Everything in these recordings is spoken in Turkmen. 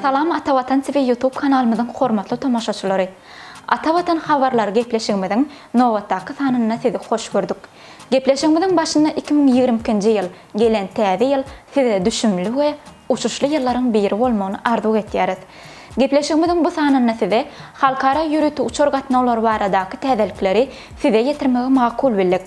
Salam Ata Watan TV YouTube kanalymyzyň hormatly tomaşaçylary. Ata Watan habarlary gepleşigimiziň nobatdaky sanynda sizi hoş gördük. Gepleşigimiziň başynda iki müň ýigrimi ikinji ýyl, gelen täze ýyl size düşümli we uçuşly ýyllaryň biri bolmagyny arzuw etýäris. Gepleşigimiziň bu sanynda size halkara ýörite uçar gatnawlary baradaky täzelikleri size ýetirmegi makul bildik.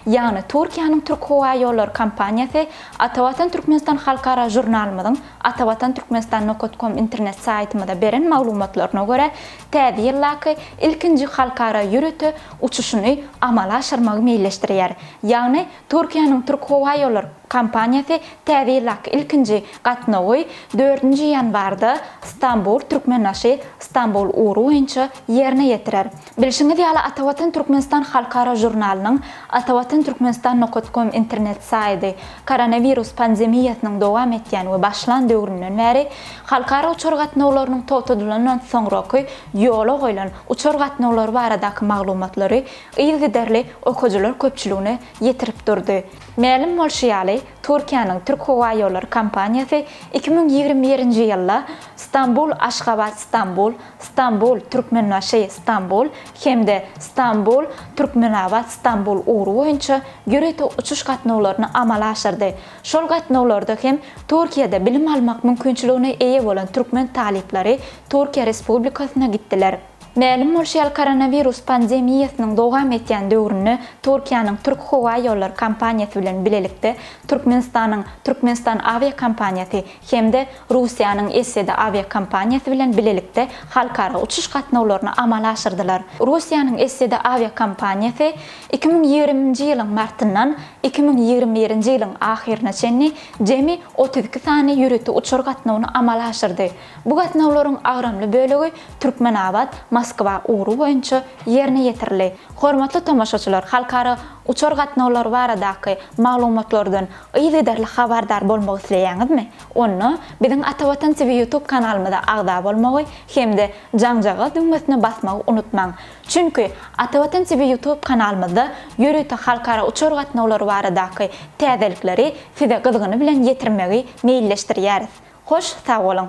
Ýagny Türkiýäniň Türkhowaýollary kompaniýasy Atavatan Türkmenistan halkara žurnalymyzyň Atavatan Türkmenistan nokat kom internet saýtymyza beren maglumatlaryna görä Täze ýyldaky ilkinji halkara ýörite uçuşyny amala aşyrmagy meýilleşdirýär. Ýagny Türkiýäniň Türkhowaýolar kompaniýasy Täze ýyldaky ilkinji gatnawy dördünji ýanwarda Stambul, Türkmenbaşy, Stambul ugry boýunça ýerine ýetirer. Bilşiňiz ýaly, Atawatan Türkmenistan halkara žurnalynyň Atawatanturkmenistan nokat kom internet saýdy koronawirus pandemiýasynyň dowam etýän we başlan döwründen bäri halkara uçar gatnawlarynyň togtadylandan soňraky ýola goýlan uçar gatnawlary baradaky maglumatlary yzygiderli okyjylar köpçüligine ýetirip durdy. Mälim bolşy ýaly, Türkiýäniň Türkhowaýollary kompaniýasy iki müň ýigrimi birinji ýylda Stambul-Aşgabat-Stambul, Stambul-Türkmenbaşy-Stambul hem-de Stambul-Türkmenabat-Stambul ugry boýunça ýörite uçuş gatnawlaryny amala aşyrdy. Şol gatnawlarda hem Türkiýede bilim almak mümkinçiligine eýe bolan türkmen talyplary Türkiýe Respublikasyna gitdiler. Mälim bolşy ýaly koronawirus pandemiýasynyň dowam etýän döwründe Türkiýäniň Türk howa ýollary kompaniýasy bilen bilelikde Türkmenistanyň Türkmenistan awiakompaniýasy hem-de Russiýanyň Eseda awiakompaniýasy bilen bilelikde halkara uçuş gatnawlaryny amala aşyrdylar. Russiýanyň Eseda awiakompaniýasy iki müň ýigrimi nji ýylyň martyndan iki müň ýigrimi birinji ýylyň ahyryna çenli jemi otuz iki sany ýörite uçar gatnawyny amala aşyrdy. Bu gatnawlaryň agramly bölegi Türkmenabat, Moskwa ugry boýunça ýerine ýetirildi. Hormatly tomaşaçylar, halkara uçar gatnawlary baradaky maglumatlardan yzygiderli habardar bolmak isleýäňizmi? Onda biziň Atavatan TV YouTube kanalymyza agza bolmagy hem-de jaňjagaz düwmesine basmagy unutmaň. Çünki Atavatan TV YouTube kanalymyzda ýörite halkara uçar gatnawlary baradaky täzelikleri size gyzgyny bilen ýetirmegi meýilleşdirýäris. Hoş sag boluň.